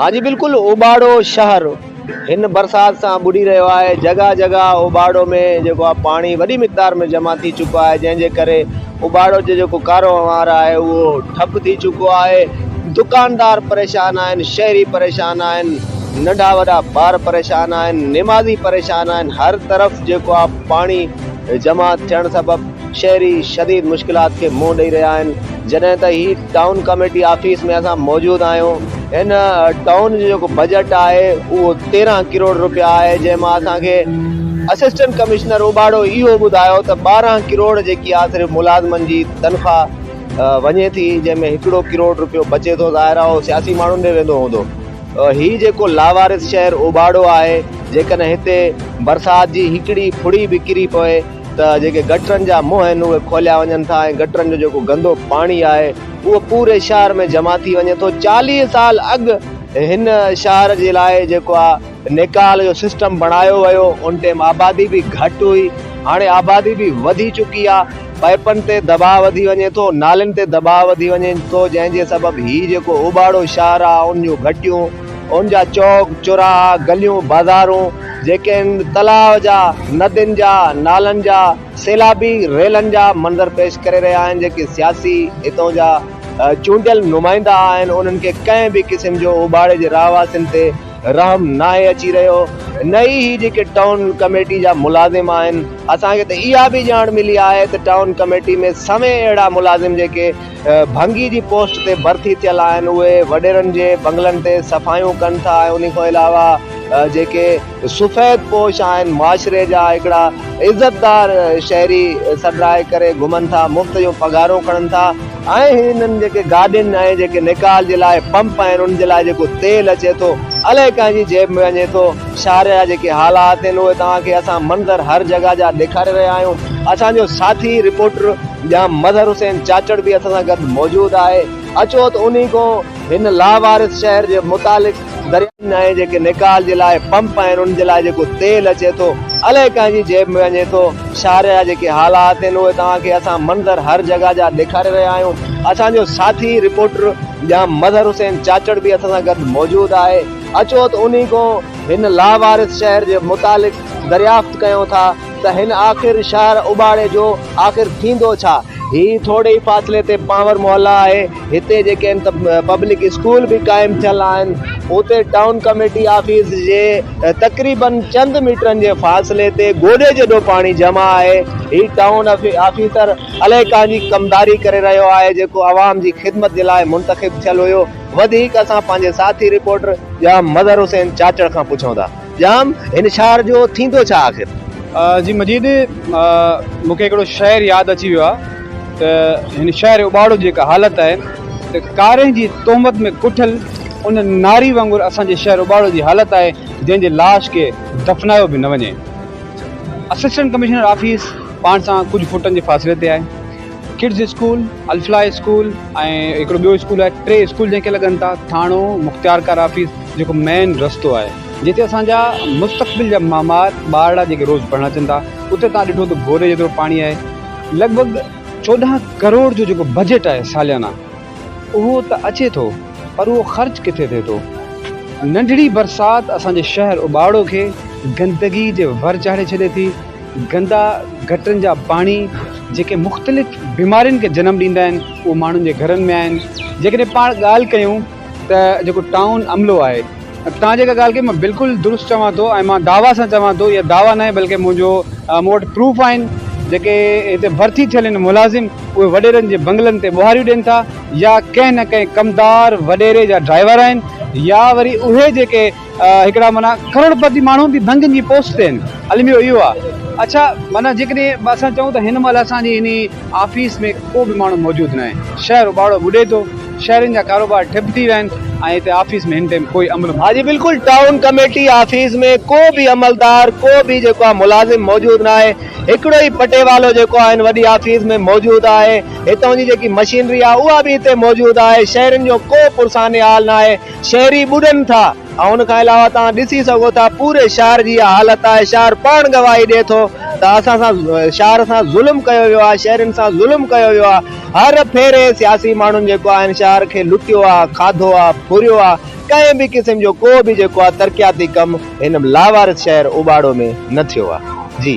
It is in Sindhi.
ها جي بلڪل اوٻاڙو شهر هن برسات سان ٻڏي رهيو آهي جڳهه جڳهه اوٻاڙو ۾ جيڪو آهي پاڻي وڏي مقدار ۾ جمع ٿي چڪو آهي جنهن جي ڪري اوٻاڙو جو جيڪو ڪاروهنوار آهي اهو ٺپ ٿي چڪو آهي دڪاندار پريشان آهن شهري پريشان آهن ننڍا وڏا ٻار پريشان آهن نمازي پريشان آهن هر طرف جيڪو آهي پاڻي جمع ٿيڻ سبب شهري شديد مشڪلات کي منهن ڏئي رهيا آهن جڏهن ته هي ٽائون ڪميٽي آفيس ۾ اسان موجود آهيون هن ٽائون جو جيڪو بجيٽ آهي اهو تيرهن ڪروڙ روپيا آهي جنهن مان اسان کي اسسٽنٽ ڪمشنر اوٻاڙو اهو ٻڌايو ته ٻارهن ڪروڙ جيڪي آهي صرف ملازمن جي تنخواه وڃي ٿي جنهن ۾ هڪڙو ڪروڙ روپيو بچي ٿو ظاهر آهي اهو سياسي ماڻهن ڏي ويندو هوندو. هي جيڪو لاوارث شهر اوٻاڙو آهي، جيڪڏهن هتي برسات جي هڪڙي ڦڙي به ڪري پوي ته جيڪي گٽرن جا منهن آهن اهي کوليا وڃن ٿا ۽ گٽرن جو جيڪو گندو پاڻي آهي اهو پوري شهر ۾ جمع ٿي وڃي ٿو. چاليهه سال اڳ هن شهر جي لاء جيڪو آ نيڪال جو سسٽم بڻايو ويو ان ٽيم آبادي به گهٽ هئي هاڻي آبادي به وڌي چڪي آ. پائپن تي دٻاء وڌي وڃي ٿو، نالين تي دٻاء وڌي وڃي ٿو جنهن جي سبب هي جيڪو اوٻاڙو شاهراهه، ان جون گهٽيون، ان جا چوڪ چوراها، گليون بازارون جيڪي ان تلاء جا، ندين جا، نالن جا، سيلابي ريلن جا منظر پيش ڪري رهيا آهن جيڪي سياسي هتون جا چونڊيل نمائندا آهن انهن کي ڪنهن به قسم جو اوٻاڙي جي رهواسين تي رحم ناهي اچي رهيو نه ئي هي جيڪي ٽائون ڪميٽي جا ملازم آهن اسان کي ته اها به ڄاڻ ملي آهي ته ٽائون ڪميٽي ۾ سوين اهڙا ملازم جيڪي ڀنگي جي پوسٽ تي ڀرتي ٿيل آهن اهي وڏيرن جي بنگلن تي صفايون ڪن ٿا ۽ انهي کان علاوه جيڪي سفيد پوش آهن معاشري جا هڪڙا عزتدار شهري سڏرائي ڪري گهمن ٿا مفت جون پگهارون کڻن ٿا ۽ هنن جيڪي گاڏين ۽ جيڪي نيڪال جي لاء پمپ آهن انهن جي لاء جيڪو تيل اچي ٿو الائي ڪنهن جي جيب ۾ وڃي ٿو. شهر جا جيڪي حالات آهن اهي توهان کي اسان منظر هر جڳهه جا ڏيکاري رهيا آهيون. اسان جو ساٿي رپورٽر ڄام مظهر حسين چاچڙ به اسان سان گڏ موجود آهي. اچو ته انهي کان هن لاوارث شهر جي متعلق درياهن ۾ ۽ جيڪي نيڪال جي لاء پمپ آهن انهن جي لاء جيڪو تيل اچي ٿو الائي ڪنهن جي جيب ۾ وڃي ٿو شارجه جا جيڪي حالات آهن اهي توهان کي اسان منظر هر جڳهه جا ڏيکاري رهيا آهيون اسان جو ساٿي رپورٽر ڄام مظهر حسين چاچڙ به اسان سان گڏ موجود آهي اچو ته انهي کان هن لاوارث شهر جي متعلق دريافت ڪيون ٿا. ته هن آخر شهر اٻاڙي جو آخر ٿيندو ڇا؟ هي ٿوري ئي فاصلي تي پانور محلا آهي، هتي جيڪي هن ته پبلڪ اسڪول به قائم ٿيل آهن، اتي ٽائون ڪميٽي آفيس جي تقريباً چند ميٽرن جي فاصلي تي گوڏي جيڏو پاڻي جمع آهي، هي ٽائون آفيسر الائي ڪانه جي ڪمداري ڪري رهيو آهي، جيڪو عوام جي خدمت جي لاء منتخب ٿيل هيو، وڌيڪ اسان پنهنجي ساٿي رپورٽر ڄام مظهر حسين چاچڙ کان پڇون ٿا. ڄام، هن شهر جو ٿيندو ڇا آخر؟ جي مجيد، مون کي هڪڙو شعر ياد اچي ويو آهي ته هن شهر اٻاڙو جي هڪ حالت آهي ته ڪارنهن جي تهمت ۾ ڪٺل ان ناري وانگر اسان جي شهر اٻاڙو جي حالت آهي جنهن جي لاش کي دفنايو به نه وڃي. اسسٽنٽ ڪمشنر آفيس پاڻ سان ڪجهه فوٽن جي فاصلي تي آهي. ڪڊز اسڪول، الفلاح اسڪول ۽ هڪڙو ٻيو اسڪول آهي ٽي اسڪول جنهن کي لڳن ٿا ٿاڻو مختيار ڪار آفيس جيڪو مين رستو آهي جتي اسان جا مستقبل جا مامار ٻارڙا جيڪي روز پڙهڻ اچن ٿا اتي تان ڏٺو ته گوري جيترو پاڻي آهي لڳ ڀڳ چوڏهن ڪروڙ جو جيڪو بجيٽ آهي ساليانا اهو ته اچي ٿو پر اهو خرچ ڪٿي ٿئي ٿو ننڍڙي برسات اسان جي شهر اباڙو کي گندگي جي ور چاڙهي ڇڏي ٿي گندا گٽرن جا پاڻي جيڪي مختلف بيمارين کي جنم ڏيندا آهن اهي ماڻهن جي گهرن ۾ آهن جيڪڏهن پاڻ ڳالهه ڪيون ته جيڪو ٽائون عملو آهي توهان جيڪا ڳالهه ڪئي مان بلڪل درست چوان ٿو ۽ مان دعويٰ سان چوان ٿو اهي دعويٰ ناهي بلڪه منهنجو مون وٽ پروف آهن جيڪي هتي ڀرتي ٿيل آهن ملازم اهي وڏيرن جي بنگلن تي ٻوهاريون ڏين ٿا يا ڪنهن نه ڪنهن ڪمدار وڏيري جا ڊرائيور آهن يا وري اهي جيڪي هڪڙا معنيٰ ڪروڙپتي ماڻهو به ڀنگين جي پوسٽ تي آهن. الميو اهو آهي. اڇا معنيٰ جيڪڏهن اسان چئون ته هن مهل اسان جي انهي آفيس ۾ ڪو به ماڻهو موجود ناهي. شهر اٻاڙو ٻڏي ٿو. شهرين جا ڪاروبار ٺپ ٿي ويا آهن ۽ هتي آفيس ۾ هن ٽيم ڪوئي عمل. ها جي بلڪل ٽائون ڪميٽي آفيس ۾ ڪو به عملدار ڪو به جيڪو آهي ملازم موجود ناهي. هڪڙو ئي پٽيوالو جيڪو آهي هن وڏي آفيس ۾ موجود آهي. هتان جي جيڪي مشينري آهي اها به هتي موجود آهي. شهرين جو ڪو پرسان حال ناهي. شهري ٻڏن ٿا ۽ ان کان علاوه توهان ڏسي سگهو ٿا پوري شهر جي اها حالت آهي شهر پاڻ گواهي ڏئي ٿو ته اسان سان شهر سان ظلم ڪيو ويو آهي شهرين سان ظلم ڪيو ويو آهي هر ڦيري سياسي ماڻهن جيڪو آهن شهر کي لٽيو آهي کاڌو آهي ڦريو آهي ڪنهن به قسم جو ڪو به جيڪو آهي ترقياتي ڪم هن لاوارث شهر اوٻاڙو ۾ نه ٿيو آهي جي.